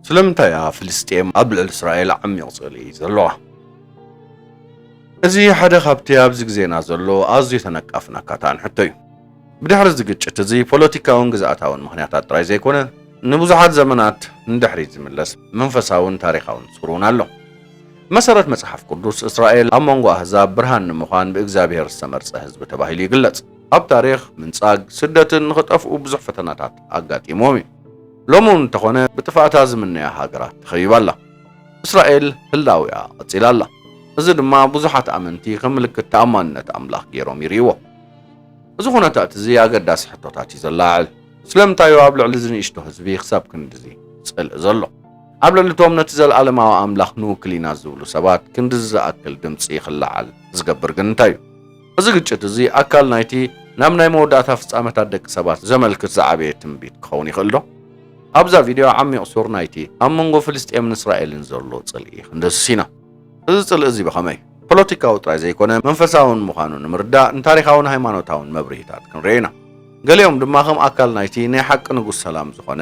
ስለምንታይ እያ ፍልስጤም ኣብ ልዕሊ እስራኤል ዓሚቕ ጽልኢ ዘለዋ? እዚ ሓደ ካብቲ ኣብዚ ግዜና ዘሎ ኣዝዩ ተነቃፍን ኣካታዕን ሕቶ እዩ። ብድሕሪ እዚ ግጭት እዚ ፖለቲካውን ግዝኣታውን ምኽንያታት ጥራይ ዘይኮነ ንብዙሓት ዘመናት ንድሕሪት ዝምለስ መንፈሳውን ታሪኻውን ጹር እውን ኣሎ። ብመሰረት መጽሓፍ ቅዱስ፣ እስራኤል ኣብ መንጎ ኣህዛብ ብርሃን ንምዃን ብእግዚኣብሄር ዝተመርጸ ህዝቢ ተባሂሉ ይግለጽ። ኣብ ታሪኽ፣ ምንጻግ፣ ስደትን ንኽጠፍኡ ብዙሕ ፈተናታት ኣጋጢምዎም እዩ። ሎሚ እውን እንተኾነ ብጥፍኣታ ዝምነያ ሃገራት ተኸቢባ ኣላ። እስራኤል ህላዊኣ ቀጺላ ኣላ። እዚ ድማ ብዙሓት ኣመንቲ ከም ምልክት ተኣማንነት ኣምላኽ ገይሮም ይርእይዎ። እዚ ኩነታት እዚ ኣገዳሲ ሕቶታት እዩ ዘለዓዕል። ስለምንታይ እዩ ኣብ ልዕሊ እዚ ንእሽቶ ህዝቢ ክሳብ ክንድዚ ጽልኢ ዘሎ? ኣብ ልዕሊ እቶም ነቲ ዘለኣለማዊ ኣምላኽ ንውክል ኢና ዝብሉ ሰባት ክንድዚ ዝኣክል ድምጺ ክለዓል ዝገብር ግን እንታይ እዩ? እዚ ግጭት እዚ ኣካል ናይቲ ናብ ናይ መወዳእታ ፍጻመታት ደቂ ሰባት ዘመልክት ዝዓበየ ትንቢት ክኸውን ይኽእል ዶ? ኣብዛ ቪድዮ ዓሚቕ ሱር ናይቲ ኣብ መንጎ ፍልስጤምን እስራኤልን ዘሎ ጽልኢ ክንድህስስ ኢና። እዚ ጽልኢ እዚ ብኸመይ ፖለቲካዊ ጥራይ ዘይኰነ መንፈሳውን ምዃኑ ንምርዳእ ንታሪኻውን ሃይማኖታውን መብርሂታት ክንርኢ ኢና። ገሊኦም ድማ ከም ኣካል ናይቲ ናይ ሓቂ ንጉስ ሰላም ዝዀነ፣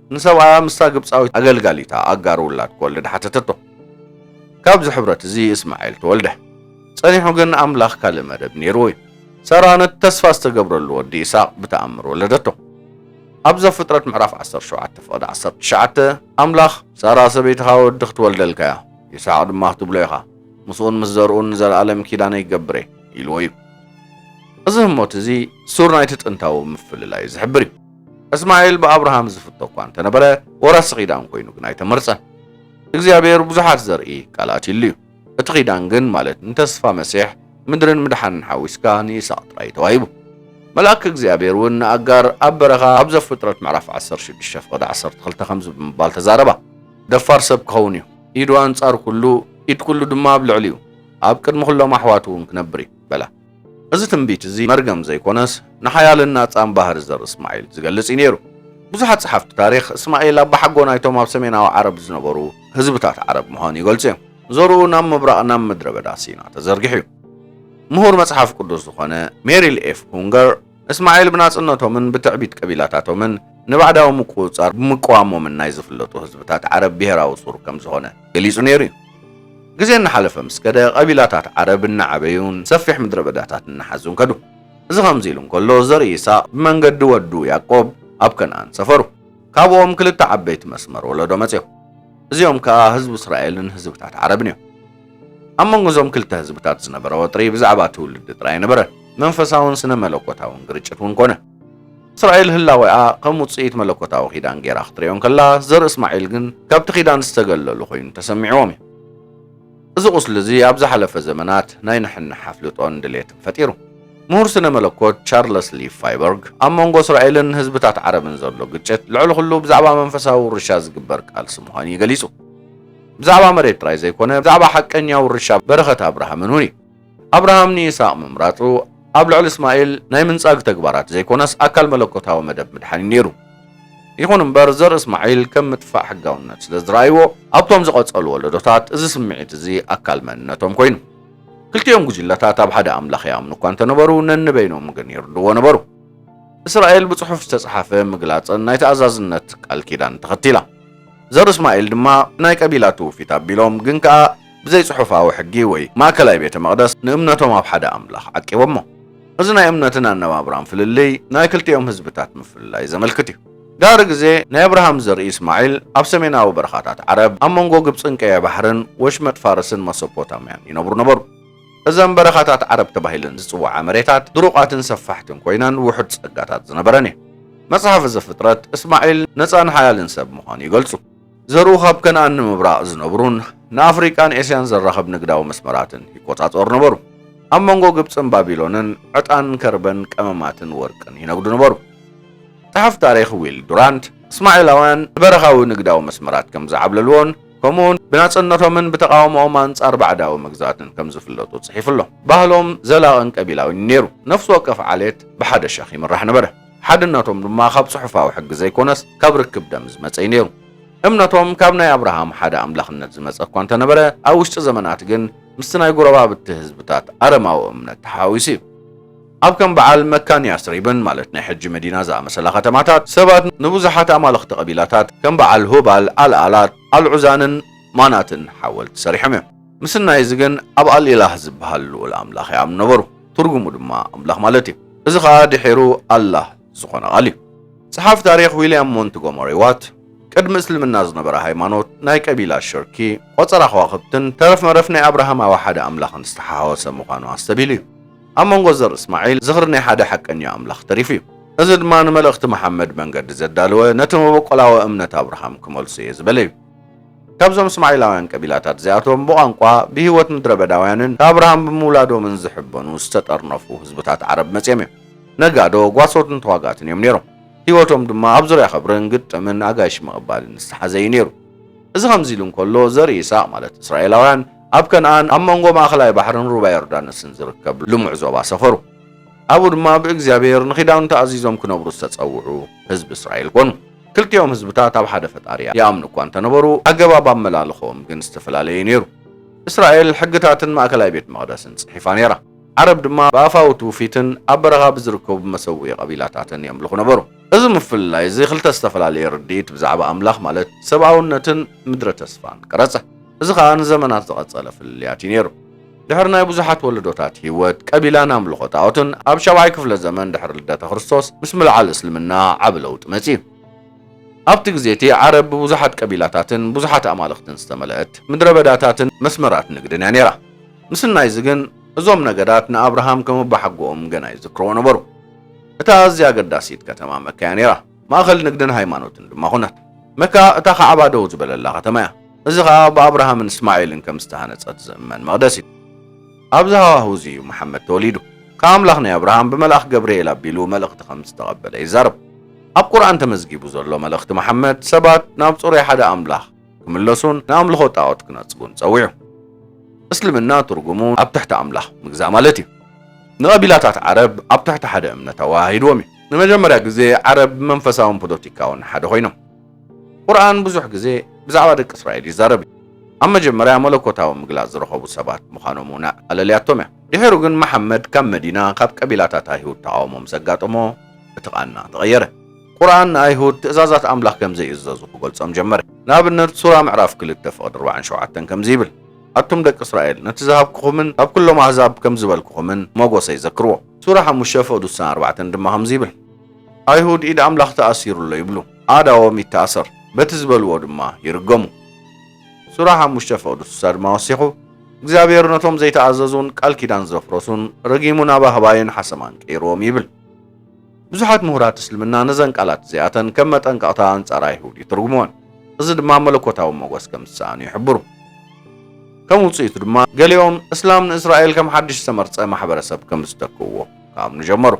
ንሰብኣያ ምስታ ግብጻዊት ኣገልጋሊታ ኣጋር ውላድ ክወልድ ሓተተቶ። ካብዚ ሕብረት እዚ እስማኤል ተወልደ። ጸኒሑ ግን ኣምላኽ ካልእ መደብ ነይርዎ እዩ። ሳራ ነቲ ተስፋ ዝተገብረሉ ወዲ ኢሳቕ ብተኣምር ወለደቶ። ኣብ ዘፍጥረት ምዕራፍ ዓሰርተ ሸውዓተ ፍቕዲ ዓሰርተ ትሽዓተ ኣምላኽ፣ ሳራ ሰበይትኻ ወዲ ክትወልደልካ እያ፣ ይስሓቕ ድማ ክትብሎ ኢኻ፣ ምስኡን ምስ ዘርኡን ንዘለኣለም ኪዳነይ ክገብር እየ ኢልዎ እዩ። እዚ ህሞት እዚ ሱር ናይቲ ጥንታዊ ምፍልላይ ዝሕብር እዩ። እስማኤል ብኣብርሃም ዝፍቶ እኳ እንተነበረ ወራሲ ኺዳን ኮይኑ ግን ኣይተመርጸን። እግዚኣብሔር ብዙሓት ዘርኢ ቃል ኣትዩሉ እዩ። እቲ ኺዳን ግን ማለት ንተስፋ መሲሕ ምድርን ምድሓንን ሓዊስካ ንይስሃቅ ጥራይ እዩ ተዋሂቡ። መልኣክ እግዚኣብሔር እውን ንኣጋር ኣብ በረኻ ኣብ ዘፍጥረት ምዕራፍ ዓሰርተ ሽዱሽተ ፍቕዲ ዓሰርተ ክልተ ከምዚ ብምባል ተዛረባ። ደፋር ሰብ ክኸውን እዩ፣ ኢዱ ኣንጻር ኩሉ ኢድ ኩሉ ድማ ኣብ ልዕሊኡ ኣብ ቅድሚ ኩሎም ኣሕዋቱ እውን ክነብር እዩ በላ። እዚ ትንቢት እዚ መርገም ዘይኮነስ ንሓያልን ናጻን ባህሪ ዘርኢ እስማኤል ዝገልጽ እዩ ነይሩ። ብዙሓት ጸሓፍቲ ታሪኽ እስማኤል ኣባሓጎ ናይቶም ኣብ ሰሜናዊ ዓረብ ዝነበሩ ህዝብታት ዓረብ ምዃኑ ይገልጹ እዮም። ዘርኡ ናብ ምብራቕ ናብ ምድረ በዳ ሲና ተዘርጊሑ እዩ። ምሁር መጽሓፍ ቅዱስ ዝኾነ ሜሪል ኤፍ ሁንገር፣ እስማዒል ብናጽነቶምን ብትዕቢት ቀቢላታቶምን ንባዕዳዊ ምቁጽጻር ብምቅዋሞምን ናይ ዝፍለጡ ህዝብታት ዓረብ ብሄራዊ ሱር ከም ዝኾነ ገሊጹ ነይሩ እዩ። ግዜ እናሓለፈ ምስ ከደ ቀቢላታት ዓረብ እናዓበዩን ሰፊሕ ምድረ በዳታት እናሓዙን ከዱ። እዚ ከምዚ ኢሉ እንከሎ ዘርኢ ይስሃቅ ብመንገዲ ወዱ ያእቆብ ኣብ ከንኣን ሰፈሩ። ካብኦም ክልተ ዓበይቲ መስመር ወለዶ መጽዮም። እዚኦም ከኣ ህዝቢ እስራኤልን ህዝብታት ዓረብን እዮም። ኣብ መንጎ እዞም ክልተ ህዝብታት ዝነበረ ወጥሪ ብዛዕባ ትውልዲ ጥራይ ነበረ፣ መንፈሳውን ስነ መለኮታውን ግርጭት እውን ኮነ። እስራኤል ህላዌኣ ከም ውጽኢት መለኮታዊ ኪዳን ገይራ ክትርእዮ እንከላ፣ ዘርኢ እስማዒል ግን ካብቲ ኪዳን ዝተገለሉ ኮይኑ ተሰሚዕዎም እዩ። እዚ ቁስሊ እዚ ኣብ ዝሓለፈ ዘመናት ናይ ንሕንሕ ኣፍልጦን ድሌትን ፈጢሩ። ምሁር ስነ መለኮት ቻርለስ ሊ ፋይበርግ ኣብ መንጎ እስራኤልን ህዝብታት ዓረብን ዘሎ ግጭት ልዕሊ ኩሉ ብዛዕባ መንፈሳዊ ውርሻ ዝግበር ቃልሲ ምዃኑ እዩ ገሊጹ። ብዛዕባ መሬት ጥራይ ዘይኮነ ብዛዕባ ሓቀኛ ውርሻ በረኸት ኣብርሃምን እውን እዩ። ኣብርሃም ንይስሃቅ ምምራጹ ኣብ ልዕሊ እስማኤል ናይ ምንጻግ ተግባራት ዘይኮነስ ኣካል መለኮታዊ መደብ ምድሓን እዩ ነይሩ። ይኹን እምበር ዘርኢ እስማዒል ከም ምጥፋእ ሕጋውነት ስለ ዝረኣይዎ ኣብቶም ዝቐጸሉ ወለዶታት እዚ ስምዒት እዚ ኣካል መንነቶም ኮይኑ። ክልቲኦም ጉጅለታት ኣብ ሓደ ኣምላኽ ይኣምኑ እኳ እንተነበሩ ነንበይኖም ግን ይርድዎ ነበሩ። እስራኤል ብጽሑፍ ዝተጽሓፈ ምግላጽን ናይ ተኣዛዝነት ቃል ኪዳን ተኸቲላ። ዘርእስማኤል ድማ ናይ ቀቢላ ትውፊት ኣቢሎም ግን ከኣ ብዘይ ጽሑፋዊ ሕጊ ወይ ማእከላይ ቤተ መቕደስ ንእምነቶም ኣብ ሓደ ኣምላኽ ዓቂቦሞ። እዚ ናይ እምነትን ኣነባብራን ፍልልይ ናይ ክልቲኦም ህዝብታት ምፍልላይ ዘመልክት እዩ። ድሕሪ ግዜ ናይ ኣብርሃም ዘርኢ እስማዒል ኣብ ሰሜናዊ በረኻታት ዓረብ ኣብ መንጎ ግብጽን ቀይሕ ባሕርን ወሽመጥ ፋርስን መሶፖታምያን ይነብሩ ነበሩ። እዘን በረኻታት ዓረብ ተባሂለን ዝጽውዓ መሬታት ድሩቓትን ሰፋሕትን ኮይነን ውሑድ ጸጋታት ዝነበረን እየን። መጽሓፈ ዘፍጥረት፣ እስማዒል ነጻን ሓያልን ሰብ ምዃኑ ይገልጹ። ዘርኡ ካብ ከነኣን ንምብራቕ ዝነብሩን ንኣፍሪቃን ኤስያን ዘራኽብ ንግዳዊ መስመራትን ይቆጻጸሩ ነበሩ። ኣብ መንጎ ግብጽን ባቢሎንን ዕጣን፣ ከርበን፣ ቀመማትን ወርቅን ይነግዱ ነበሩ። ጸሓፍ ታሪኽ ዊል ዱራንት፣ እስማዒላውያን ንበረኻዊ ንግዳዊ መስመራት ከም ዝዓብለልዎን፣ ከምኡውን ብናጽነቶምን ብተቓውሞኦም ኣንጻር ባዕዳዊ መግዛእትን ከም ዝፍለጡ ጽሒፉ ኣሎ። ባህሎም ዘላቕን ቀቢላዊን ነይሩ። ነፍሲ ወከፍ ዓሌት ብሓደ ሸኽ ይምራሕ ነበረ። ሓድነቶም ድማ ካብ ጽሑፋዊ ሕጊ ዘይኮነስ ካብ ርክብ ደም ዝመጸ እዩ ነይሩ። እምነቶም ካብ ናይ ኣብርሃም ሓደ ኣምላኽነት ዝመጸ እኳ እንተ ነበረ፣ ኣብ ውሽጢ ዘመናት ግን ምስቲ ናይ ጐረባብቲ ህዝብታት ኣረማዊ እምነት ተሓዋዊሱ እዩ። ኣብ ከም በዓል መካን ያስሪብን፣ ማለት ናይ ሕጂ መዲና ዝኣመሰላ ከተማታት፣ ሰባት ንብዙሓት ኣማልኽቲ ቀቢላታት፣ ከም በዓል ሁባል፣ ኣልኣላት፣ ኣልዑዛንን ማናትን ሓወልቲ ሰሪሖም እዮም። ምስናይ እዚ ግን፣ ኣብ ኣልኢላህ ዝበሃል ልኡል ኣምላኽ ይኣምኑ ነበሩ፣ ትርጉሙ ድማ ኣምላኽ ማለት እዩ። እዚ ኸኣ ድሒሩ ኣላህ፣ ዝኾነ ቃል እዩ። ጸሓፍ ታሪኽ ዊልያም ሞንትጎመሪ ዋት፣ ቅድሚ እስልምና ዝነበረ ሃይማኖት፣ ናይ ቀቢላ ሽርኪ፣ ቆጸራ ከዋኽብትን ተረፍ መረፍ ናይ ኣብርሃማዊ ሓደ ኣምላኽን ዝተሓዋወሰ ምዃኑ ኣስተብሂሉ እዩ። ኣብ መንጎ ዘር እስማዒል ዝኽሪ ናይ ሓደ ሓቀኛ ኣምላኽ ተሪፉ እዩ። እዚ ድማ ንመልእኽቲ መሓመድ መንገዲ ዘዳለወ ነቲ መበቆላዊ እምነት ኣብርሃም ክመልሶ እየ ዝበለ እዩ። ካብዞም እስማዒላውያን ቀቢላታት እዚኣቶም ብቋንቋ፣ ብህይወት ምድረበዳውያንን ንኣብርሃም ብምውላዶምን ዝሕበኑ ዝተጠርነፉ ህዝብታት ዓረብ መጺኦም እዮም። ነጋዶ፣ ጓሶትን ተዋጋእትን እዮም ነይሮም። ህይወቶም ድማ ኣብ ዙርያ ኸብርን ግጥምን ኣጋይሽ ምቕባልን ዝተሓዘ እዩ ነይሩ። እዚ ኸምዚ ኢሉ እንከሎ፣ ዘርኢ ይስሃቅ ማለት እስራኤላውያን ኣብ ከንኣን ኣብ መንጎ ማእኸላይ ባሕርን ሩባ ዮርዳኖስን ዝርከብ ልሙዕ ዞባ ሰፈሩ። ኣብኡ ድማ ብእግዚኣብሄር ንኺዳኑ ተኣዚዞም ክነብሩ ዝተጸውዑ ህዝቢ እስራኤል ኮኑ። ክልቲኦም ህዝብታት ኣብ ሓደ ፈጣሪ ይኣምኑ እኳ እንተነበሩ፣ ኣገባብ ኣመላልኽኦም ግን ዝተፈላለየ'ዩ ነይሩ። እስራኤል ሕግታትን ማእከላይ ቤት መቕደስን ጽሒፋ ነይራ። ዓረብ ድማ ብኣፋዊ ትውፊትን ኣብ በረኻ ብዝርከቡ መሰውኢ ቀቢላታትን የምልኹ ነበሩ። እዚ ምፍልላይ እዚ ክልተ ዝተፈላለየ ርድኢት ብዛዕባ ኣምላኽ ማለት ሰብኣውነትን ምድረ ተስፋን ቀረጸ። እዚ ኸኣ ንዘመናት ዝቐጸለ ፍልልያት እዩ ነይሩ። ድሕሪ ናይ ብዙሓት ወለዶታት ህይወት፣ ቀቢላን ኣምልኾ ጣኦትን፣ ኣብ ሻብዓይ ክፍለ ዘመን ድሕሪ ልደተ ክርስቶስ ምስ ምልዓል እስልምና ዓቢ ለውጢ መጺኡ። ኣብቲ ግዜ እቲ ዓረብ ብብዙሓት ቀቢላታትን ብዙሓት ኣማልኽትን ዝተመልአት፣ ምድረ በዳታትን መስመራት ንግድን እያ ነይራ። ምስናይ እዚ ግን እዞም ነገዳት ንኣብርሃም ከም ኣቦሓጎኦም ገና ይዝክርዎ ነበሩ። እታ ኣዝያ ኣገዳሲት ከተማ መካ እያ ነይራ። ማእከል ንግድን ሃይማኖትን ድማ ዀነት። መካ እታ ካዕባ ደው ዝበለላ ኸተማ እያ፣ እዚ ኸኣ ብኣብርሃምን እስማዒልን ከም ዝተሃንጸት ዝእመን መቕደስ እዩ። ኣብዚ ሃዋህው እዚ እዩ መሓመድ ተወሊዱ። ከኣ ኣምላኽ ናይ ኣብርሃም ብመልኣኽ ገብርኤል ኣቢሉ መልእኽቲ ኸም ዝተቐበለ ይዛረብ። ኣብ ቁርኣን ተመዝጊቡ ዘሎ መልእኽቲ መሓመድ፣ ሰባት ናብ ጽሩይ ሓደ ኣምላኽ፣ ክምለሱን ንኣምልኾ ጣዖት ክነጽጉን ጸዊዑ። እስልምና ትርጉሙ ኣብ ትሕቲ ኣምላኽ ምግዛእ ማለት እዩ። ንቐቢላታት ዓረብ ኣብ ትሕቲ ሓደ እምነት ኣወሃሂድዎም እዩ። ንመጀመርያ ግዜ ዓረብ ብመንፈሳውን ፖለቲካውን ሓደ ኮይኖም። ቁርኣን ብዙሕ ግዜ ብዛዕባ ደቂ እስራኤል ይዛረብ እዩ። ኣብ መጀመርያ መለኮታዊ ምግላጽ ዝረኸቡ ሰባት ምዃኖም እውን ኣለልያቶም እያ። ድሒሩ ግን መሓመድ ካብ መዲና ካብ ቀቢላታት ኣይሁድ ተቓውሞ ምስ ኣጋጠሞ እቲ ቃና ተቐየረ። ቁርኣን ንኣይሁድ ትእዛዛት ኣምላኽ ከም ዘይእዘዙ ክገልጾም ጀመረ። ንኣብነት ሱራ ምዕራፍ ክልተ ፍቕዲ ኣርባዕን ሸውዓተን ከምዚ ይብል፣ ኣቱም ደቂ እስራኤል ነቲ ዝሃብኩኹምን ካብ ኩሎም ኣህዛብ ከም ዝበልኩኹምን ሞጎሰይ ዘክርዎ። ሱራ ሓሙሽተ ፍቕዲ ሱሳን ኣርባዕተን ድማ ከምዚ ይብል፣ ኣይሁድ ኢድ ኣምላኽ ተኣሲሩ ኣሎ ይብሉ፣ ኣእዳዎም ይተኣሰር፣ በቲ ዝበልዎ ድማ ይርገሙ። ሱራ ሓሙሽተ ፍቕዲ ሱሳ ድማ ወሲኹ፣ እግዚኣብሄር ነቶም ዘይተኣዘዙን ቃል ኪዳን ዘፍረሱን ረጊሙ ናብ ኣህባይን ሓሰማን ቀይርዎም ይብል። ብዙሓት ምሁራት እስልምና ነዘን ቃላት እዚኣተን ከም መጠንቀቕታ ኣንጻር ኣይሁድ ይትርጉምወን፣ እዚ ድማ መለኮታዊ ሞገስ ከም ዝሰኣኑ ይሕብሩ። ከም ውጽኢቱ ድማ ገሊኦም እስላም ንእስራኤል ከም ሓድሽ ዝተመርጸ ማሕበረሰብ ከም ዝተክእዎ ክኣምኑ ጀመሩ።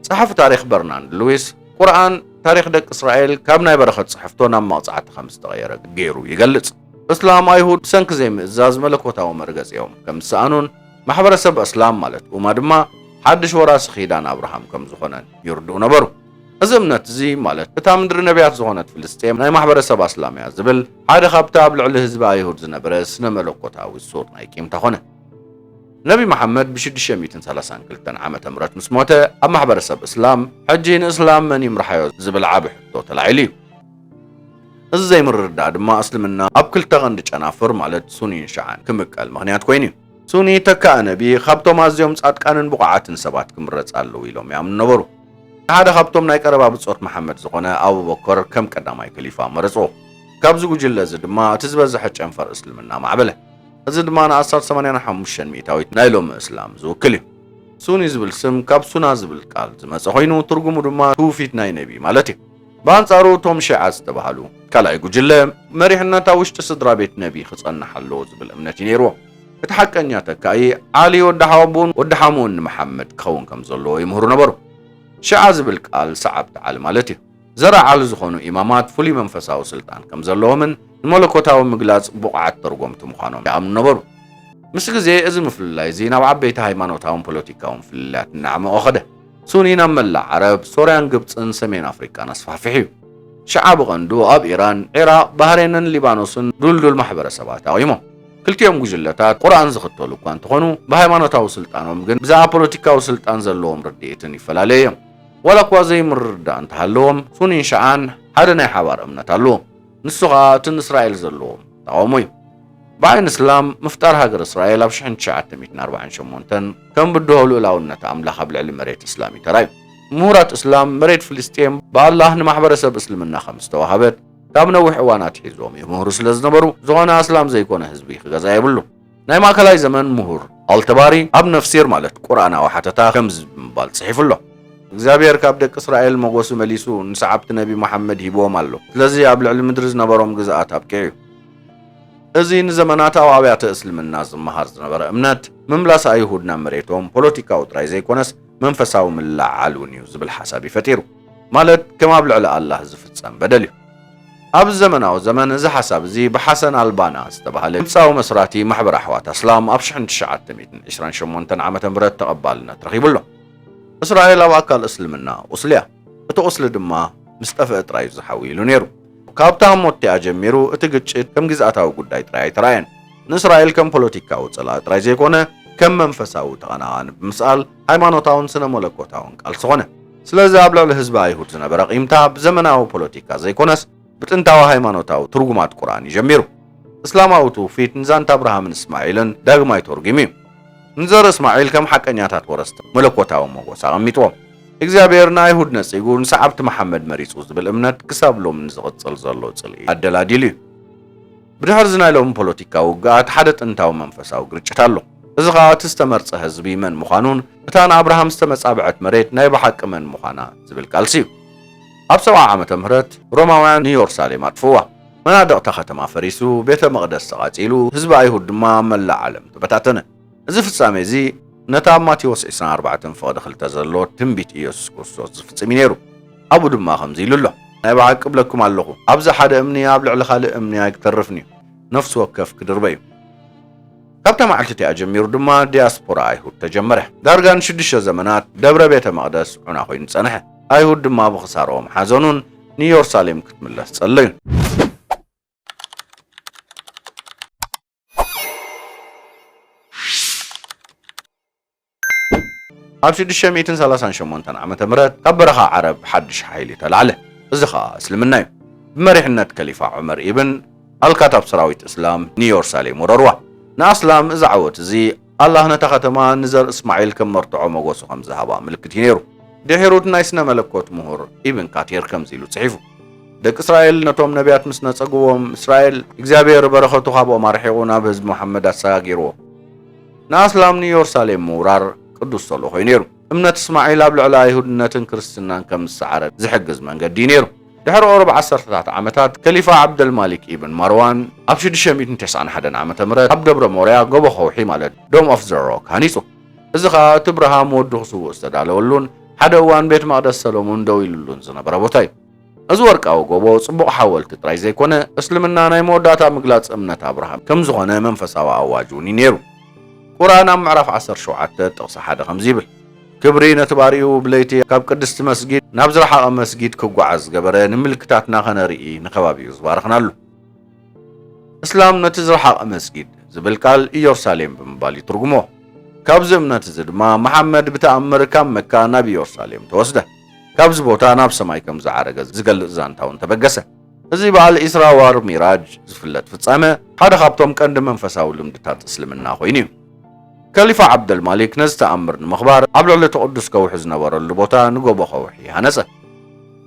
ጸሓፊ ታሪኽ በርናንድ ሉዊስ፣ ቁርኣን ታሪኽ ደቂ እስራኤል ካብ ናይ በረኸት ጽሕፍቶ ናብ መቕጻዕቲ ከም ዝተቐየረ ገይሩ ይገልጽ። እስላም ኣይሁድ ብሰንኪ ዘይምእዛዝ መለኮታዊ መርገጺኦም ከም ዝሰኣኑን፣ ማሕበረሰብ ኣስላም ማለት ኡማ ድማ ሓድሽ ወራሲ ኺዳን ኣብርሃም ከም ዝኾነን ይርድኡ ነበሩ። እዚ እምነት እዚ ማለት እታ ምድሪ ነብያት ዝኾነት ፍልስጤም ናይ ማሕበረሰብ ኣስላም እያ ዝብል ሓደ ካብቲ ኣብ ልዕሊ ህዝቢ ኣይሁድ ዝነበረ ስነ መለኮታዊ ሱር ናይ ቂምታ ኮነ። ነቢ መሓመድ ብ ሽዱሽተ ሚእትን ሰላሳን ክልተን ዓመተ ምህረት ምስ ሞተ ኣብ ማሕበረሰብ እስላም ሕጂ ንእስላም መን ይምርሓዮ ዝብል ዓቢ ሕቶ ተላዒሉ እዩ። እዚ ዘይምርድዳእ ድማ እስልምና ኣብ ክልተ ቀንዲ ጨናፍር ማለት ሱኒን ሽዓን ክምቀል ምኽንያት ኮይኑ እዩ። ሱኒ ተካኢ ነቢ ካብቶም ኣዝዮም ጻድቃንን ብቑዓትን ሰባት ክምረጽ ኣለዎ ኢሎም ይኣምኑ ነበሩ። ንሓደ ካብቶም ናይ ቀረባ ብጾት መሓመድ ዝኾነ ኣቡበከር ከም ቀዳማይ ከሊፋ መረጽዎ። ካብዚ ጉጅለ እዚ ድማ እቲ ዝበዝሐ ጨንፈር እስልምና ማዕበለ። እዚ ድማ ንኣስታት ሰማንያ ሓሙሽተ ሚእታዊት ናይ ሎሚ እስላም ዝውክል እዩ። ሱኒ ዝብል ስም ካብ ሱና ዝብል ቃል ዝመጸ ኮይኑ ትርጉሙ ድማ ትውፊት ናይ ነቢ ማለት እዩ። ብኣንጻሩ እቶም ሺዓ ዝተባህሉ ካልኣይ ጉጅለ፣ መሪሕነት ኣብ ውሽጢ ስድራቤት ነቢ ክጸንሕ ኣለዎ ዝብል እምነት እዩ ነይርዎም። እቲ ሓቀኛ ተካኢ፣ ዓሊ ወዲ ሓወቦኡን ወዲ ሓሙኡን ንመሓመድ ክኸውን ከም ዘለዎ ይምህሩ ነበሩ። ሺዓ ዝብል ቃል ሰዓብቲ ዓሊ ማለት እዩ። ዘርኢ ዓሊ ዝኾኑ ኢማማት ፍሉይ መንፈሳዊ ስልጣን ከም ዘለዎምን ንመለኮታዊ ምግላጽ ብቑዓት ተርጎምቲ ምዃኖም ይኣምኑ ነበሩ። ምስ ግዜ እዚ ምፍልላይ እዚ ናብ ዓበይቲ ሃይማኖታውን ፖለቲካውን ፍልልያት እናዕመቖ ከደ። ሱኒ ናብ መላእ ዓረብ፣ ሶርያን ግብጽን ሰሜን ኣፍሪቃን ኣስፋሕፊሑ። ሽዓ ብቐንዱ ኣብ ኢራን፣ ዒራቕ፣ ባህሬንን ሊባኖስን ዱልዱል ማሕበረሰባት ኣቚሞም። ክልቲኦም ጉጅለታት ቁርኣን ዝኽተሉ እኳ እንተኾኑ፣ ብሃይማኖታዊ ስልጣኖም ግን ብዛዕባ ፖለቲካዊ ስልጣን ዘለዎም ርድኢትን ይፈላለዩ እዮም። ዋላኳ ዘይምርድዳእ እንተሃለዎም፣ ሱኒን ሽዓን ሓደ ናይ ሓባር እምነት ኣለዎም። ንሱ ኸኣ እቲ ንእስራኤል ዘለዎ ተቓውሞ እዩ። ብዓይኒ እስላም ምፍጣር ሃገረ እስራኤል ኣብ ሽሕን ትሽዓተ ሚእትን ኣርባዓን ሸሞንተን ከም ብድሆ ልኡላውነት ኣምላኽ ኣብ ልዕሊ መሬት እስላም እዩ ተራእዩ። ምሁራት እስላም መሬት ፍልስጤም ብኣላህ ንማሕበረሰብ እስልምና ከም ዝተዋህበት ካብ ነዊሕ እዋን ኣትሒዞም ይምህሩ ስለ ዝነበሩ፣ ዝኾነ ኣስላም ዘይኮነ ህዝቢ ክገዝኣ የብሉን። ናይ ማእከላይ ዘመን ምሁር ኣልተባሪ ኣብ ነፍሲር ማለት ቁርኣናዊ ሓተታ ከምዚ ብምባል ጽሒፉ ኣሎ። እግዚኣብሄር ካብ ደቂ እስራኤል መጎሲ መሊሱ ንሰዓብቲ ነቢ መሓመድ ሂብዎም ኣሎ። ስለዚ ኣብ ልዕሊ ምድሪ ዝነበሮም ግዝኣት ኣብቂዑ'ዩ። እዚ ንዘመናት ኣብ ኣብያተ እስልምና ዝመሃር ዝነበረ እምነት ምምላስ ኣይሁድ ናብ መሬቶም ፖለቲካዊ ጥራይ ዘይኮነስ መንፈሳዊ ምልዕዓል እውን'ዩ ዝብል ሓሳብ'ዩ ፈጢሩ። ማለት ከም ኣብ ልዕሊ ኣላህ ዝፍጸም በደል እዩ። ኣብዚ ዘመናዊ ዘመን እዚ ሓሳብ እዚ ብሓሰን ኣልባና ዝተባህለ ግብጻዊ መስራቲ ማሕበር ኣሕዋት ኣስላም ኣብ ሽሕን ትሽዓተ ሚእትን ዕስራን ሸሞንተን ዓመተ ምህረት ተቐባልነት ረኺቡ ኣሎ። እስራኤል ኣብ ኣካል እስልምና ቁስሊ እያ፣ እቲ ቁስሊ ድማ ምስ ጠፍአ ጥራይ እዩ ዝሓዊ ኢሉ ነይሩ። ካብታ ኣሞትቲኣ ጀሚሩ እቲ ግጭት ከም ግዝኣታዊ ጉዳይ ጥራይ ኣይተራእየን። ንእስራኤል ከም ፖለቲካዊ ጸላኢ ጥራይ ዘይኮነ ከም መንፈሳዊ ተቐናቓኒ ብምስኣል ሃይማኖታውን ስነ-መለኮታውን ቃልሲ ኮነ። ስለዚ ኣብ ልዕሊ ህዝቢ ኣይሁድ ዝነበረ ቂምታ ብዘመናዊ ፖለቲካ ዘይኮነስ ብጥንታዊ ሃይማኖታዊ ትርጉማት ቁርኣን እዩ ጀሚሩ። እስላማዊ ትውፊት ንዛንታ ኣብርሃምን እስማዒልን ዳግማይ ተርጒሙ እዩ። ንዘርኢ እስማዒል ከም ሓቀኛታት ወረስቲ መለኮታዊ ሞጎስ ኣቐሚጥዎም። እግዚኣብሔር ንኣይሁድ ነጺጉ ንሰዓብቲ መሓመድ መሪጹ ዝብል እምነት ክሳብ ሎሚ ንዝቕጽል ዘሎ ጽልኢ ኣደላዲሉ እዩ። ብድሕርዚ ናይ ሎሚ ፖለቲካዊ ውግኣት ሓደ ጥንታዊ መንፈሳዊ ግርጭት ኣሎ። እዚ ኸኣ እቲ ዝተመርጸ ህዝቢ መን ምዃኑን እታ ንኣብርሃም ዝተመጻብዐት መሬት ናይ ብሓቂ መን ምዃና ዝብል ቃልሲ እዩ። ኣብ ሰብዓ ዓመተ ምህረት ሮማውያን ንዮርሳሌም ኣጥፍእዋ። መናድቕ'ታ ኸተማ ፈሪሱ፣ ቤተ መቕደስ ተቓጺሉ፣ ህዝቢ ኣይሁድ ድማ ኣብ መላእ ዓለም ተበታተነ። እዚ ፍጻሜ እዚ ነቲ ኣብ ማቴዎስ ዕስራን ኣርባዕተን ፍቕዲ ክልተ ዘሎ ትንቢት ኢየሱስ ክርስቶስ ዝፍጽም እዩ ነይሩ። ኣብኡ ድማ ከምዚ ኢሉ ኣሎ። ናይ ብሓቂ እብለኩም ኣለኹ፣ ኣብዚ ሓደ እምኒ ኣብ ልዕሊ ካልእ እምኒ ኣይክተርፍን እዩ፣ ነፍሲ ወከፍ ክድርበ እዩ። ካብታ መዓልቲ እቲኣ ጀሚሩ ድማ ዲያስፖራ ኣይሁድ ተጀመረ። ዳርጋ ንሽዱሽተ ዘመናት ደብረ ቤተ መቕደስ ዑና ኮይኑ ጸንሐ። ኣይሁድ ድማ ብኽሳርኦም ሓዘኑን ንኢየሩሳሌም ክትምለስ ጸለዩን። ኣብ ሽዱሽተ ሚእትን ሰላሳን ሸሞንተን ዓመተ ምህረት ካብ በረኻ ዓረብ ሓድሽ ሓይሊ ተላዕለ። እዚ ኸኣ እስልምና እዩ። ብመሪሕነት ከሊፋ ዑመር ኢብን ኣልካታብ ሰራዊት እስላም ንዮርሳሌም ወረርዋ። ንኣስላም እዚ ዓወት እዚ ኣላህ ነታ ኸተማ ንዘር እስማዒል ከም መርትዖ መጎሱ ከም ዝሃባ ምልክት እዩ ነይሩ። ድሒሩ ናይ ስነ መለኮት ምሁር ኢብን ካቲር ከምዚ ኢሉ ጽሒፉ፣ ደቂ እስራኤል ነቶም ነብያት ምስ ነጸግዎም፣ እስራኤል እግዚኣብሄር በረኸቱ ካብኦም ኣርሒቑ ናብ ህዝቢ መሓመድ ኣሰጋጊርዎ። ንኣስላም ንዮርሳሌም ምውራር ቅዱስ ሰሎ ኮይኑ ነይሩ። እምነት እስማዒል ኣብ ልዕሊ ኣይሁድነትን ክርስትናን ከም ዝሰዓረ ዝሕግዝ መንገዲ እዩ ነይሩ። ድሕሪ ቁሩብ ዓሰርተታት ዓመታት፣ ከሊፋ ዓብደልማሊክ ኢብን ማርዋን ኣብ ሽዱሽተ ሚእትን ተስዓን ሓደን ዓመተ ምህረት ኣብ ደብረ ሞርያ፣ ጎቦ ከውሒ ማለት፣ Dome of the Rock፣ ሃኒጹ። እዚ ኸኣ እቲ ብርሃም ወዱ ክስውእ ዝተዳለወሉን ሓደ እዋን ቤት መቕደስ ሰሎሞን ደው ኢሉሉን ዝነበረ ቦታ እዩ። እዚ ወርቃዊ ጎቦ ጽቡቕ ሓወልቲ ጥራይ ዘይኮነ፣ እስልምና ናይ መወዳእታ ምግላጽ እምነት ኣብርሃም ከም ዝኾነ መንፈሳዊ ኣዋጅ እውን እዩ ነይሩ። ቁርኣን ኣብ ምዕራፍ ዓሰርተ ሸውዓተ ጥቕሲ ሓደ ከምዚ ይብል፣ ክብሪ ነቲ ባርያኡ ብለይቲ ካብ ቅድስቲ መስጊድ ናብ ዝረሓቐ መስጊድ ክጓዓዝ ዝገበረ ንምልክታትና ከነርኢ ንከባቢኡ ዝባረኽናሉ። እስላም ነቲ ዝረሓቐ መስጊድ ዝብል ቃል ኢዮርሳሌም ብምባል ይትርጉሞ። ካብዚ እምነት እዚ ድማ መሓመድ ብተኣምር ካብ መካ ናብ ኢዮርሳሌም ተወስደ። ካብዚ ቦታ ናብ ሰማይ ከም ዝዓረገ ዝገልጽ ዛንታ እውን ተበገሰ። እዚ በዓል ኢስራ ዋር ሚራጅ ዝፍለጥ ፍጻመ፣ ሓደ ካብቶም ቀንዲ መንፈሳዊ ልምድታት እስልምና ኮይኑ እዩ። ከሊፋ ዓብደልማሊክ ነዚ ተኣምር ንምኽባር ኣብ ልዕሊ እቲ ቅዱስ ከውሒ ዝነበረሉ ቦታ ንጎቦ ከውሒ ሃነጸ።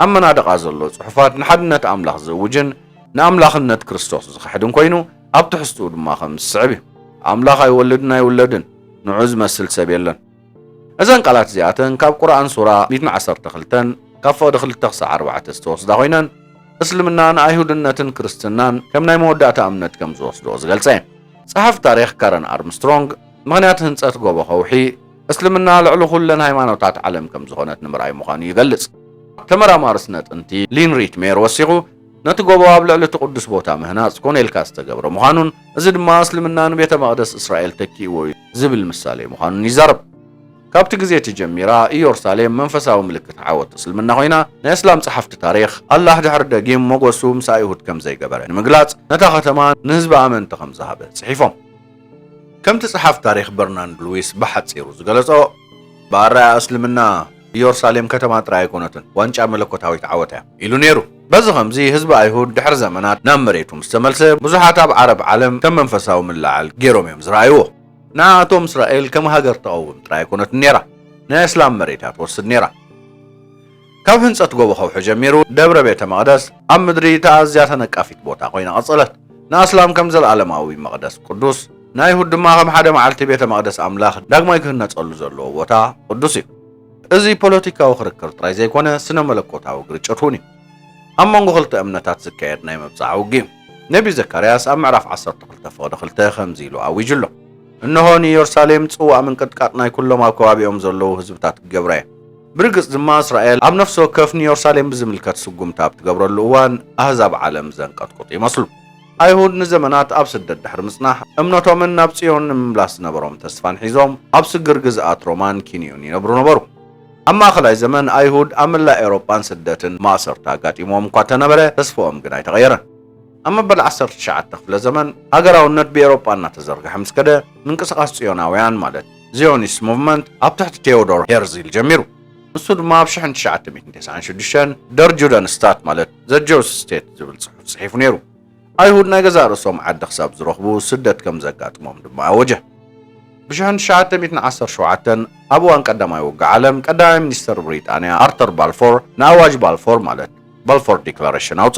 ኣብ መናድቓ ዘሎ ጽሑፋት ንሓድነት ኣምላኽ ዝእውጅን ንኣምላኽነት ክርስቶስ ዝኽሕድን ኮይኑ፣ ኣብ ትሕዝትኡ ድማ ከም ዝስዕብ እዩ፣ ኣምላኽ ኣይወልድን ኣይውለድን፣ ንዕኡ ዝመስል ሰብ የለን። እዘን ቃላት እዚኣተን ካብ ቁርኣን ሱራ ሚእትን ዓሰርተ ክልተን ካብ ፍቕዲ ክልተ ክሳዕ ኣርባዕተ ዝተወስዳ ኮይነን እስልምና ንኣይሁድነትን ክርስትናን ከም ናይ መወዳእታ እምነት ከም ዝወስድኦ ዝገልጸ እየን። ጸሓፊ ታሪኽ ካረን ኣርምስትሮንግ ምኽንያት ህንጸት ጎቦ ከውሒ እስልምና ልዕሊ ኩለን ሃይማኖታት ዓለም ከም ዝኾነት ንምርኣይ ምዃኑ ይገልጽ። ተመራማሪ ስነ ጥንቲ ሊን ሪትሜር ወሲኹ ነቲ ጎቦ ኣብ ልዕሊ እቲ ቅዱስ ቦታ ምህናጽ ኮነ ኢልካ ዝተገብረ ምዃኑን እዚ ድማ እስልምና ንቤተ መቕደስ እስራኤል ተኪእዎ እዩ ዝብል ምሳሌ ምዃኑን ይዛረብ። ካብቲ ግዜ እቲ ጀሚራ ኢዮርሳሌም መንፈሳዊ ምልክት ዓወት እስልምና ኮይና፣ ንእስላም ጸሓፍቲ ታሪኽ፣ ኣላህ ድሕሪ ደጊም ሞገሱ ምስ ኣይሁድ ከም ዘይገበረ ንምግላጽ ነታ ከተማ ንህዝቢ ኣመንቲ ከም ዝሃበ ጽሒፎም። ከምቲ ጸሓፍ ታሪኽ በርናንድ ሉዊስ ብሓጺሩ ዝገለጾ፣ ብኣረኣእያ እስልምና ኢዮርሳሌም ከተማ ጥራይ ኣይኮነትን፣ ዋንጫ መለኮታዊት ዓወት እያ ኢሉ ነይሩ። በዚ ኸምዚ ህዝቢ ኣይሁድ ድሕሪ ዘመናት ናብ መሬቱ ምስ ተመልሰ፣ ብዙሓት ኣብ ዓረብ ዓለም ከም መንፈሳዊ ምልዕዓል ገይሮም እዮም ዝረኣይዎ። ንዓኣቶም እስራኤል ከም ሃገር ተቐውም ጥራይ ኣይኮነትን ነይራ፣ ናይ ኣስላም መሬት እያ ትወስድ ነይራ። ካብ ህንጸት ጎቦ ከውሒ ጀሚሩ ደብረ ቤተ መቕደስ ኣብ ምድሪ እታ ኣዝያ ተነቃፊት ቦታ ኮይና ቀጸለት። ንኣስላም ከም ዘለኣለማዊ መቕደስ ቅዱስ፣ ንኣይሁድ ድማ ከም ሓደ መዓልቲ ቤተ መቕደስ ኣምላኽ ዳግማይ ክህነጸሉ ዘለዎ ቦታ ቅዱስ እዩ። እዚ ፖለቲካዊ ክርክር ጥራይ ዘይኮነ ስነ መለኮታዊ ግርጭት እውን እዩ። ኣብ መንጎ ክልተ እምነታት ዝካየድ ናይ ምብጻሕ ውግእ እዩ። ነብዪ ዘካርያስ ኣብ ምዕራፍ ዓሰርተ ክልተ ፍቕዲ ክልተ ከምዚ ኢሉ ኣዊጁ ኣሎ። እንሆ ንኢየሩሳሌም ጽዋእ ምንቅጥቃጥ ናይ ኩሎም ኣብ ከባቢኦም ዘለዉ ህዝብታት ክገብራ እየ። ብርግጽ ድማ እስራኤል ኣብ ነፍሲ ወከፍ ንዮርሳሌም ብዝምልከት ስጉምቲ ኣብ ትገብረሉ እዋን ኣህዛብ ዓለም ዘንቀጥቁጡ ይመስሉ። ኣይሁድ ንዘመናት ኣብ ስደት ድሕሪ ምጽናሕ እምነቶምን ናብ ጽዮን ንምምላስ ዝነበሮም ተስፋን ሒዞም ኣብ ስግር ግዝኣት ሮማን ኪንዮን ይነብሩ ነበሩ። ኣብ ማእከላይ ዘመን ኣይሁድ ኣብ መላእ ኤውሮጳን ስደትን ማእሰርቲ ኣጋጢምዎም እኳ እተነበረ ተስፍኦም ግን ኣይተቐየረን። ኣብ መበል ዓሰርተ ትሽዓተ ክፍለ ዘመን ሃገራውነት ብኤውሮጳ እናተዘርግሐ ምስ ከደ ምንቅስቓስ ጽዮናውያን ማለት፣ ዚዮኒስት ሙቭመንት ኣብ ትሕቲ ቴዎዶር ሄርዚል ጀሚሩ። ንሱ ድማ ኣብ ሽሕን ትሽዓተ ሚእትን ተስዓን ሽዱሽተን ደር ጁደን ስታት ማለት ዘ ጀውስ ስቴት ዝብል ጽሑፍ ጽሒፉ ነይሩ። ኣይሁድ ናይ ገዛእ ርእሶም ዓዲ ክሳብ ዝረኽቡ ስደት ከም ዘጋጥሞም ድማ ኣወጀ። ብሽሕን ትሽዓተ ሚእትን ዓሰርተ ሸውዓተን ኣብ እዋን ቀዳማይ ውግእ ዓለም ቀዳማይ ሚኒስተር ብሪጣንያ ኣርተር ባልፎር ንኣዋጅ ባልፎር ማለት ባልፎር ዲክላረሽን ኣውጸ።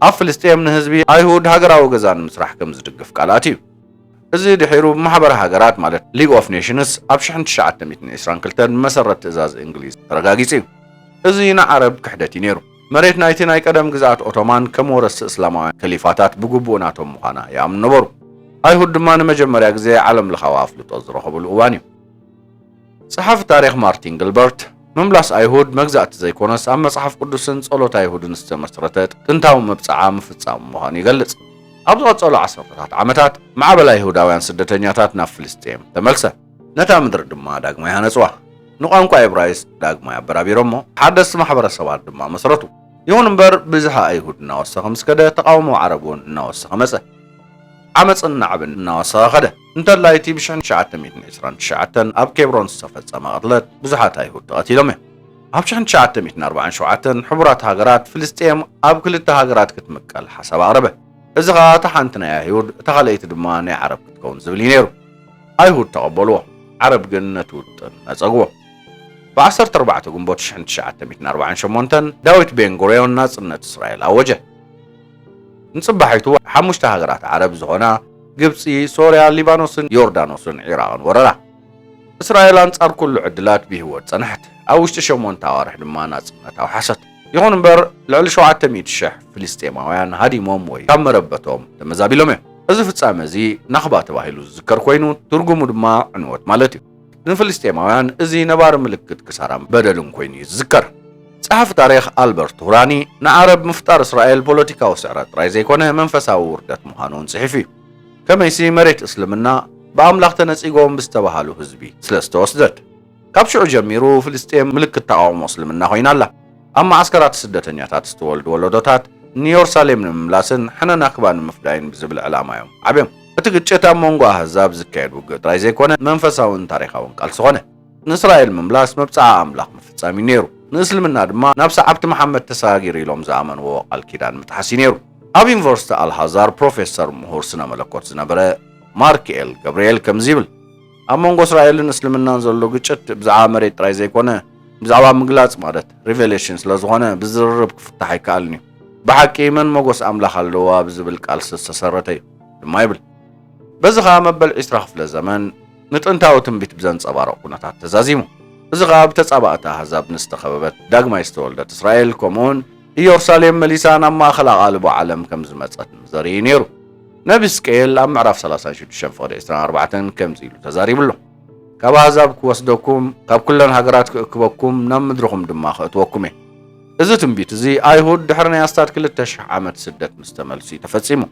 ኣብ ፍልስጤም ንህዝቢ ኣይሁድ ሃገራዊ ገዛ ንምስራሕ ከም ዝድግፍ ቃል ኣትዩ። እዚ ድሒሩ ብማሕበር ሃገራት ማለት ሊግ ኦፍ ኔሽንስ ኣብ ሽሕን ትሽዓተ ሚእትን ዒስራን ክልተን ብመሰረት ትእዛዝ እንግሊዝ ተረጋጊጹ እዩ። እዚ ንዓረብ ክሕደት እዩ ነይሩ። መሬት ናይቲ ናይ ቀደም ግዝኣት ኦቶማን ከም ወረስቲ እስላማውያን ከሊፋታት ብግቡእ ናቶም ምዃና ይኣምኑ ነበሩ። ኣይሁድ ድማ ንመጀመርያ ግዜ ዓለምለኻዊ ኣፍልጦ ዝረኸብሉ እዋን እዩ። ጸሓፊ ታሪኽ ማርቲን ግልበርት፣ ምምላስ ኣይሁድ መግዛእቲ ዘይኰነስ ኣብ መጽሓፍ ቅዱስን ጸሎት ኣይሁድን ዝተመስረተ ጥንታዊ መብጽዓ ምፍጻሙ ምዃኑ ይገልጽ። ኣብ ዝቐጸሉ ዓሰርተታት ዓመታት፣ ማዕበል ኣይሁዳውያን ስደተኛታት ናብ ፍልስጥኤም ተመልሰ። ነታ ምድሪ ድማ ዳግማይ ሃነጽዋ፣ ንቋንቋ እብራይስጥ ዳግማይ ኣበራቢሮሞ፣ ሓደስቲ ማሕበረሰባት ድማ መስረቱ። ይኹን እምበር፣ ብዝሒ ኣይሁድ እናወሰኸ ምስ ከደ፣ ተቓውሞ ዓረብ እውን እናወሰኸ መጸ። ዓመጽን ናዕብን እናወሰኸ ከደ። እንተላይ እቲ ብሽሕ ትሽዓተ ሚእትን ዕስራን ትሽዓተን ኣብ ኬብሮን ዝተፈጸመ ቅትለት ብዙሓት ኣይሁድ ተቐቲሎም እዮም። ኣብ ሽሕ ትሽዓተ ሚእትን ኣርባዓን ሸውዓተን ሕቡራት ሃገራት ፍልስጤም ኣብ ክልተ ሃገራት ክትምቀል ሓሳብ ኣቕረበ። እዚ ኸኣ እታ ሓንቲ ናይ ኣይሁድ እታ ካልኣይቲ ድማ ናይ ዓረብ ክትከውን ዝብል እዩ ነይሩ። ኣይሁድ ተቐበልዎ፣ ዓረብ ግን ነቲ ውጥን ነጸግዎ። ብ ዓሰርተ ኣርባዕተ ግንቦት ሽሕ ትሽዓተ ሚእትን ኣርባዓን ሸሞንተን ዳዊት ቤን ጉርዮን ናጽነት እስራኤል ኣወጀ። ንጽባሒቱ ሓሙሽተ ሃገራት ዓረብ ዝኾና ግብጺ፣ ሶርያ፣ ሊባኖስን ዮርዳኖስን ዒራቕን ወረራ። እስራኤል ኣንጻር ኩሉ ዕድላት ብህይወት ጸንሐት፣ ኣብ ውሽጢ ሸሞንተ ኣዋርሕ ድማ ናጽነት ኣውሓሰት። ይኹን እምበር ልዕሊ ሸውዓተ ሚእቲ ሽሕ ፍልስጤማውያን ሃዲሞም ወይ ካብ መረበቶም ተመዛቢሎም እዮም። እዚ ፍጻመ እዚ ናኽባ ተባሂሉ ዝዝከር ኮይኑ ትርጉሙ ድማ ዕንወት ማለት እዩ። ንፍልስጤማውያን እዚ ነባሪ ምልክት ክሳራን በደልን ኮይኑ እዩ ዝዝከር። ጸሓፊ ታሪኽ ኣልበርት ቱራኒ ንዓረብ ምፍጣር እስራኤል ፖለቲካዊ ስዕረት ጥራይ ዘይኮነ መንፈሳዊ ውርደት ምዃኑ እውን ጽሒፉ እዩ። ከመይሲ መሬት እስልምና ብኣምላኽ ተነጺጎም ብዝተባሃሉ ህዝቢ ስለ ዝተወስደት። ካብ ሽዑ ጀሚሩ ፍልስጤም ምልክት ተቓውሞ እስልምና ኮይና ኣላ። ኣብ መዓስከራት ስደተኛታት ዝተወልዱ ወለዶታት ንዮርሳሌም ንምምላስን ሕነ ናክባ ንምፍዳይን ብዝብል ዕላማ እዮም ዓብዮም። እቲ ግጭት ኣብ መንጎ ኣህዛብ ዝካየድ ውግእ ጥራይ ዘይኮነ መንፈሳውን ታሪኻውን ቃልሲ ኮነ። ንእስራኤል ምምላስ መብጽዓ ኣምላኽ ምፍጻም እዩ ነይሩ። ንእስልምና ድማ ናብ ሰዓብቲ መሓመድ ተሰጋጊሩ ኢሎም ዝኣመንዎ ቃል ኪዳን ምጥሓስ እዩ ነይሩ። ኣብ ዩኒቨርሲቲ ኣልሃዛር ፕሮፌሰር ምሁር ስነ መለኮት ዝነበረ ማርክኤል ገብርኤል ከምዚ ይብል፣ ኣብ መንጎ እስራኤልን እስልምናን ዘሎ ግጭት ብዛዕባ መሬት ጥራይ ዘይኮነ ብዛዕባ ምግላጽ ማለት ሪቨሌሽን ስለ ዝኾነ ብዝርርብ ክፍታሕ ኣይከኣልን እዩ። ብሓቂ መን ሞጎስ ኣምላኽ ኣለዋ ብዝብል ቃልሲ ዝተሰረተ እዩ። ድማ ይብል። በዚ ከኣ መበል ዕስራ ክፍለ ዘመን ንጥንታዊ ትንቢት ብዘንጸባርቕ ኩነታት ተዛዚሙ። እዚ ከኣ ብተጻባእቲ ኣህዛብ ንዝተኸበበት ዳግማይ ዝተወልደት እስራኤል ከምኡውን ኢዮርሳሌም መሊሳ ናብ ማእከል ኣቓልቦ ዓለም ከም ዝመጸት ዘርኢ እዩ ነይሩ። ነቢ ህዝቅኤል ኣብ ምዕራፍ ሰላሳን ሽዱሽተን ፍቕዲ ዕስራን ኣርባዕተን ከምዚ ኢሉ ተዛሪቡ ኣሎ። ካብ ኣህዛብ ክወስደኩም፣ ካብ ኩለን ሃገራት ክእክበኩም፣ ናብ ምድርኹም ድማ ከእትወኩም እየ። እዚ ትንቢት እዚ ኣይሁድ ድሕሪ ናይ ኣስታት ክልተ ሽሕ ዓመት ስደት ምስ ተመልሱ እዩ ተፈጺሙ።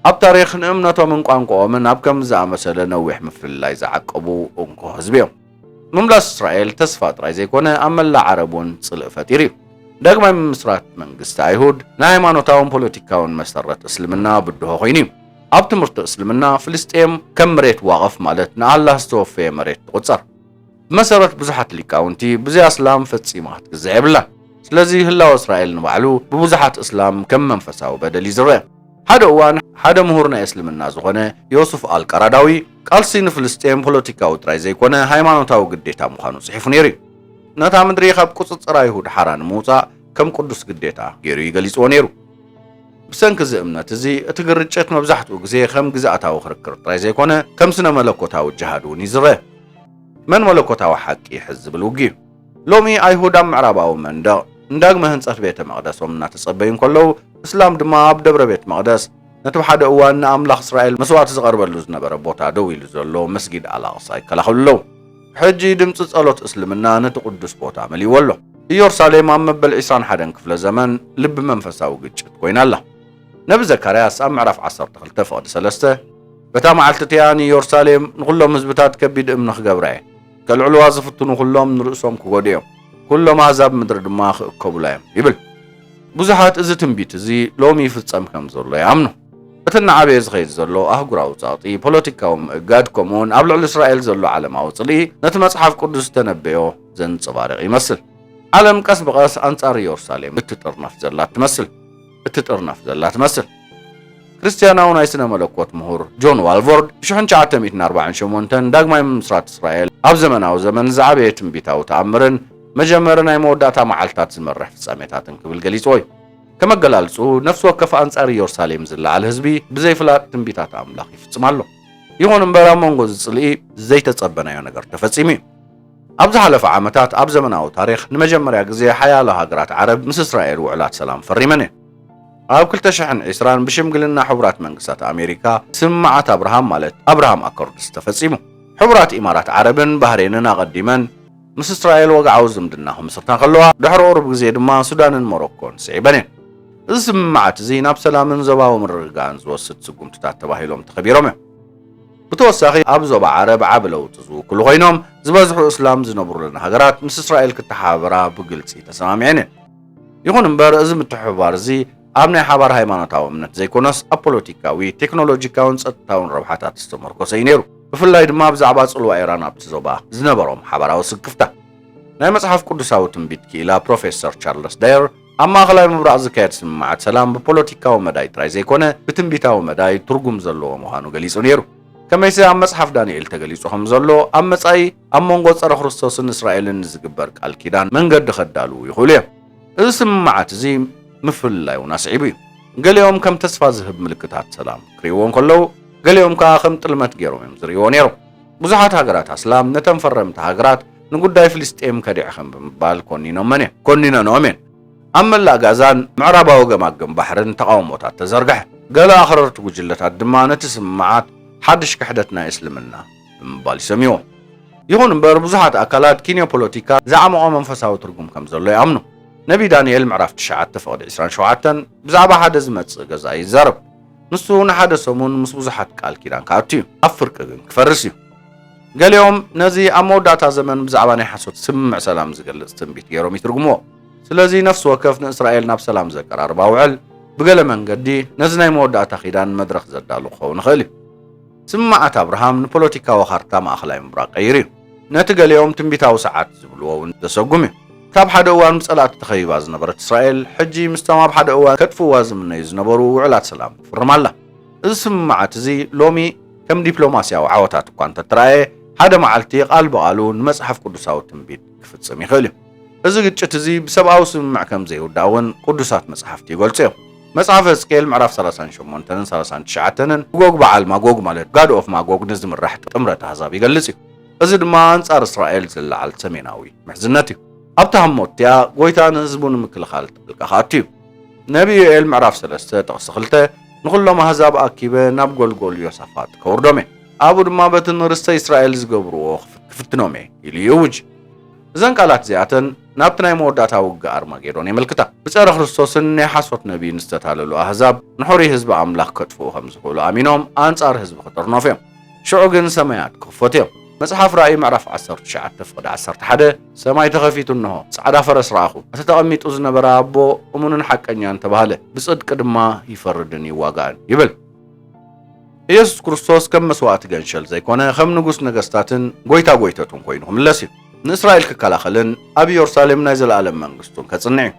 ኣብ ታሪኽ ንእምነቶምን ቋንቋኦምን ኣብ ከምዚ ዝኣመሰለ ነዊሕ ምፍልላይ ዝዓቀቡ እንኮ ህዝቢ እዮም። ምምላስ እስራኤል ተስፋ ጥራይ ዘይኮነ ኣብ መላእ ዓረብ እውን ጽልኢ ፈጢሩ እዩ። ዳግማይ ምምስራት መንግስቲ ኣይሁድ ናይ ሃይማኖታውን ፖለቲካውን መሰረት እስልምና ብድሆ ኮይኑ እዩ። ኣብ ትምህርቲ እስልምና ፍልስጤም ከም መሬት ዋቕፍ ማለት ንኣላህ ዝተወፈየ መሬት ትቑጸር። ብመሰረት ብዙሓት ሊቃውንቲ ብዘይ ኣስላም ፈጺማ ክትግዛእ የብላን። ስለዚ ህላወ እስራኤል ንባዕሉ ብብዙሓት እስላም ከም መንፈሳዊ በደል እዩ ዝረኣ። ሓደ እዋን ሓደ ምሁር ናይ እስልምና ዝኾነ ዮሱፍ ኣል ቃራዳዊ ቃልሲ ንፍልስጤም ፖለቲካዊ ጥራይ ዘይኮነ ሃይማኖታዊ ግዴታ ምዃኑ ጽሒፉ ነይሩ እዩ። ነታ ምድሪ ካብ ቁጽጽር ኣይሁድ ሓራ ንምውጻእ ከም ቅዱስ ግዴታ ገይሩ እዩ ገሊጽዎ ነይሩ። ብሰንኪ እዚ እምነት እዚ እቲ ግርጭት መብዛሕትኡ ግዜ ከም ግዝኣታዊ ክርክር ጥራይ ዘይኮነ ከም ስነ መለኮታዊ ጅሃድ እውን እዩ ዝረኣ። መን መለኮታዊ ሓቂ ይሕዝ ዝብል ውግእ'ዩ። ሎሚ ኣይሁድ ኣብ ምዕራባዊ መንደቕ ንዳግመ ህንጸት ቤተ መቕደሶም እናተጸበዩ እንከለዉ፣ እስላም ድማ ኣብ ደብረ ቤት መቕደስ፣ ነቲ ብሓደ እዋን ንኣምላኽ እስራኤል መስዋእቲ ዝቐርበሉ ዝነበረ ቦታ ደው ኢሉ ዘሎ መስጊድ ኣል-ኣቕሳ ይከላኸሉ ኣለዉ። ሕጂ ድምጺ ጸሎት እስልምና ነቲ ቅዱስ ቦታ መሊእዎ ኣሎ። ኢየሩሳሌም ኣብ መበል ዕስራን ሓደን ክፍለ ዘመን ልቢ መንፈሳዊ ግጭት ኮይና ኣላ። ነቢ ዘካርያስ ኣብ ምዕራፍ ዓሰርተ ክልተ ፍቕዲ ሰለስተ በታ መዓልቲ እቲኣ ንኢየሩሳሌም ንዅሎም ህዝብታት ከቢድ እምኒ ክገብራ እየ፣ ከልዕልዋ ዝፍትኑ ዅሎም ንርእሶም ክጐድኡ እዮም፣ ኵሎም ኣህዛብ ምድሪ ድማ ክእከቡላ እዮም ይብል። ብዙሓት እዚ ትንቢት እዚ ሎሚ ይፍጸም ከም ዘሎ ይኣምኑ። እቲ እናዓበየ ዝኸይድ ዘሎ ኣህጉራዊ ጸቕጢ፣ ፖለቲካዊ ምእጋድ፣ ከምኡውን ኣብ ልዕሊ እስራኤል ዘሎ ዓለማዊ ጽልኢ ነቲ መጽሓፍ ቅዱስ ዝተነበዮ ዘንጸባርቕ ይመስል። ዓለም ቀስ ብቐስ ኣንጻር ኢየሩሳሌም እትጥርነፍ ዘላ ትመስል። እትጥርነፍ ዘላ ትመስል። ክርስትያናዊ ናይ ስነ መለኮት ምሁር ጆን ዋልቮርድ ብ ሽሕ ን ትሽዓተ ሚእትን ኣርባዕን ሸሞንተን ዳግማይ ምምስራት እስራኤል ኣብ ዘመናዊ ዘመን ዝዓበየ ትንቢታዊ ተኣምርን መጀመሪ ናይ መወዳእታ መዓልታት ዝመርሕ ፍጻሜታትን ክብል ገሊጽዎ እዩ። ከም ኣገላልጽኡ ነፍሲ ወከፍ ኣንጻር ኢዮርሳሌም ዝለዓል ህዝቢ ብዘይ ፍላጥ ትንቢታት ኣምላኽ ይፍጽም ኣሎ። ይኹን እምበር ኣብ መንጎ እዚ ጽልኢ ዘይተጸበናዮ ነገር ተፈጺሙ እዩ። ኣብ ዝሓለፈ ዓመታት ኣብ ዘመናዊ ታሪኽ ንመጀመርያ ግዜ ሓያሎ ሃገራት ዓረብ ምስ እስራኤል ውዕላት ሰላም ፈሪመን እየን። ኣብ ክልተ ሽሕን ዕስራን ብሽምግልና ሕቡራት መንግስታት ኣሜሪካ ስምምዓት ኣብርሃም ማለት ኣብርሃም ኣኮርድስ ተፈጺሙ። ሕቡራት ኢማራት ዓረብን ባህሬንን ኣቐዲመን ምስ እስራኤል ወግዓዊ ዝምድና ክምስርታ ከለዋ፣ ድሕሪ ቁሩብ ግዜ ድማ ሱዳንን ሞሮኮን ስዒበን እየን። እዚ ስምምዓት እዚ ናብ ሰላምን ዞባዊ ምርግጋእን ዝወስድ ስጉምትታት ተባሂሎም ተኸቢሮም እዮም። ብተወሳኺ ኣብ ዞባ ዓረብ ዓቢ ለውጢ ዝውክሉ ኮይኖም፣ ዝበዝሑ እስላም ዝነብሩለን ሃገራት ምስ እስራኤል ክተሓባበራ ብግልጺ ተሰማሚዐን እየን። ይኹን እምበር እዚ ምትሕብባር እዚ ኣብ ናይ ሓባር ሃይማኖታዊ እምነት ዘይኮነስ ኣብ ፖለቲካዊ፣ ቴክኖሎጂካውን ጸጥታውን ረብሓታት ዝተመርኮሰ እዩ ነይሩ፣ ብፍላይ ድማ ብዛዕባ ጽልዋ ኢራን ኣብቲ ዞባ ዝነበሮም ሓባራዊ ስክፍታ። ናይ መጽሓፍ ቅዱሳዊ ትንቢት ክኢላ ፕሮፌሰር ቻርለስ ዳየር፣ ኣብ ማእኸላይ ምብራቕ ዝካየድ ስምምዓት ሰላም ብፖለቲካዊ መዳይ ጥራይ ዘይኮነ ብትንቢታዊ መዳይ ትርጉም ዘለዎ ምዃኑ ገሊጹ ነይሩ። ከመይሲ ኣብ መጽሓፍ ዳንኤል ተገሊጹ ከም ዘሎ ኣብ መጻኢ ኣብ መንጎ ጸረ ክርስቶስን እስራኤልን ንዝግበር ቃል ኪዳን መንገዲ ከዳልዉ ይኽእሉ እዮም። እዚ ስምምዓት እዚ ምፍልላይ እውን ኣስዒቡ እዩ። ገሊኦም ከም ተስፋ ዝህብ ምልክታት ሰላም ክርእይዎ እንከለዉ ገሊኦም ከኣ ከም ጥልመት ገይሮም እዮም ዝርእይዎ ነይሮም። ብዙሓት ሃገራት ኣስላም ነተን ፈረምቲ ሃገራት ንጉዳይ ፍልስጤም ከዲዕኽም ብምባል ኮኒኖመን እዮም ኮኒነንኦም እየን። ኣብ መላእ ጋዛን ምዕራባዊ ገማግም ባሕርን ተቓውሞታት ተዘርግሐ። ገለ ኣኽረርቲ ጉጅለታት ድማ ነቲ ስምምዓት ሓድሽ ክሕደት ናይ እስልምና ብምባል ይሰምይዎ። ይኹን እምበር ብዙሓት ኣካላት ኪንዮ-ፖለቲካ ዝዓሞቐ መንፈሳዊ ትርጉም ከም ዘሎ ይኣምኑ። ነብዪ ዳንኤል ምዕራፍ ትሽዓተ ፍቕዲ ዕስራን ሸውዓተን ብዛዕባ ሓደ ዝመጽእ ገዛኢ ይዛረብ። ንሱ ንሓደ ሰሙን ምስ ብዙሓት ቃል ኪዳን ክኣቱ እዩ፣ ኣብ ፍርቂ ግን ክፈርስ እዩ። ገሊኦም ነዚ ኣብ መወዳእታ ዘመን ብዛዕባ ናይ ሓሶት ስምምዕ ሰላም ዝገልጽ ትንቢት ገይሮም ይትርጉምዎ። ስለዚ ነፍሲ ወከፍ ንእስራኤል ናብ ሰላም ዘቀራርብ ኣውዕል ብገለ መንገዲ ነዚ ናይ መወዳእታ ኪዳን መድረኽ ዘዳሉ ክኸውን ይኽእል እዩ። ስምምዓት ኣብርሃም ንፖለቲካዊ ካርታ ማእከላይ ምብራቕ ቀይሩ እዩ። ነቲ ገሊኦም ትንቢታዊ ሰዓት ዝብልዎ እውን ዘሰጉም እዩ። እታ ኣብ ሓደ እዋን ብጸላእቲ ተኸቢባ ዝነበረት እስራኤል፣ ሕጂ ምስቶም ኣብ ሓደ እዋን ከጥፍእዋ ዝምነዩ ዝነበሩ ውዕላት ሰላም ትፍርም ኣላ። እዚ ስምምዓት እዚ ሎሚ ከም ዲፕሎማስያዊ ዓወታት እኳ እንተ ተራእየ፣ ሓደ መዓልቲ ቓል ብቓሉ ንመጽሓፍ ቅዱሳዊ ትንቢት ክፍጽም ይኽእል እዩ። እዚ ግጭት እዚ ብሰብኣዊ ስምምዕ ከም ዘይውዳእ እውን ቅዱሳት መጽሓፍቲ ይገልጹ እዮም። መጽሓፍ ሕዝቅኤል ምዕራፍ ሰላሳን ሸሞንተንን ሰላሳን ትሽዓተንን ብጎግ በዓል ማጎግ ማለት ጋድ ኦፍ ማጎግ ንዝምራሕ ጥምረት ኣህዛብ ይገልጽ እዩ። እዚ ድማ ኣንጻር እስራኤል ዝለዓል ሰሜናዊ ምሕዝነት እዩ። ኣብታ ህሞት እቲኣ ጎይታ ንህዝቡ ንምክልኻል ጣልቃ ክኣቱ እዩ። ነቢ ዮኤል ምዕራፍ ሰለስተ ጥቕሲ ክልተ ንኹሎም ኣህዛብ ኣኪበ ናብ ጎልጎል ዮሳፋጥ ከውርዶም እየ፣ ኣብኡ ድማ በቲ ንርስተ እስራኤል ዝገብርዎ ክፍትኖም እየ ኢሉ ይእውጅ። እዘን ቃላት እዚኣተን ናብቲ ናይ መወዳእታ ውግእ ኣርማጌዶን የመልክታ። ብጸረ ክርስቶስን ናይ ሓሶት ነብይን ዝተታለሉ ኣህዛብ ንሑሩይ ህዝቢ ኣምላኽ ከጥፍኡ ከም ዝኽእሉ ኣሚኖም ኣንጻር ህዝቢ ክጥርነፉ እዮም። ሽዑ ግን ሰማያት ክኽፈቱ እዮም። መጽሓፍ ራእይ ምዕራፍ ዓሰርተ ትሽዓተ ፍቕዲ ዓሰርተ ሓደ ሰማይ ተኸፊቱ እንሆ፣ ጻዕዳ ፈረስ ረኣኹ፣ እቲ ተቐሚጡ ዝነበረ ኣቦ እሙንን ሓቀኛን ተባህለ፣ ብጽድቂ ድማ ይፈርድን ይዋጋእን ይብል። ኢየሱስ ክርስቶስ ከም መስዋእቲ ገንሸል ዘይኮነ ከም ንጉስ ነገስታትን ጎይታ ጎይተቱን ኮይኑ ክምለስ እዩ። ንእስራኤል ክከላኸልን ኣብ ኢዮርሳሌም ናይ ዘለኣለም መንግስቱን ከጽንዕ እዩ።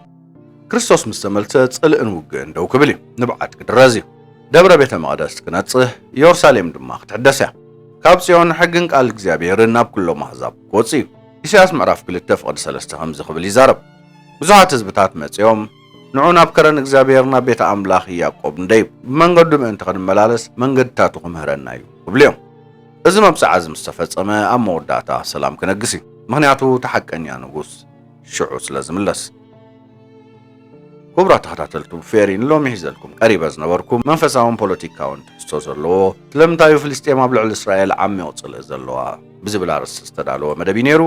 ክርስቶስ ምስ ተመልሰ ጽልእን ውግእን ደው ክብል እዩ፣ ንብዓት ክድረዝ እዩ። ደብረ ቤተ መቕደስ ክነጽህ፣ ኢዮርሳሌም ድማ ክትሕደስ እያ። ካብ ጽዮን ሕግን ቃል እግዚኣብሔርን ናብ ኩሎም ኣህዛብ ክወጽእ እዩ። ኢሳያስ ምዕራፍ ክልተ ፍቕዲ ሰለስተ ከምዚ ክብል ይዛረብ፣ ብዙሓት ህዝብታት መጺኦም ንዑ ናብ ከረን እግዚኣብሔር ናብ ቤተ ኣምላኽ ያእቆብ ንደይብ፣ ብመንገዱ ምእንቲ ክንመላለስ መንገድታቱ ክምህረና እዩ ክብሉ እዮም። እዚ መብጽዓ እዚ ምስ ተፈጸመ ኣብ መወዳእታ ሰላም ክነግስ እዩ፣ ምኽንያቱ እቲ ሓቀኛ ንጉስ ሽዑ ስለ ዝምለስ። ኩቡራት ተኸታተልቱ ፌሪ ንሎሚ ሒዘልኩም ቀሪበ ዝነበርኩ መንፈሳውን ፖለቲካውን ትሕዝቶ ዘለዎ ስለምንታዩ ፍልስጤም ኣብ ልዕሊ እስራኤል ዓሚቕ ጽልኢ ዘለዋ ብዝብል ኣርእስቲ ዝተዳለወ መደብ እዩ ኔሩ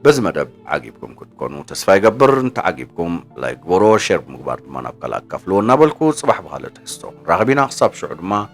በዚ መደብ ዓጊብኩም ክትኮኑ ተስፋ ይገብር እንተዓጊብኩም ላይክ ግበርዎ ሼር ብምግባር ድማ ናብ ካልእ ኣካፍልዎ እናበልኩ ጽባሕ ብኻልእ ትሕዝቶ ክንራኸብ ኢና ክሳብ ሽዑ ድማ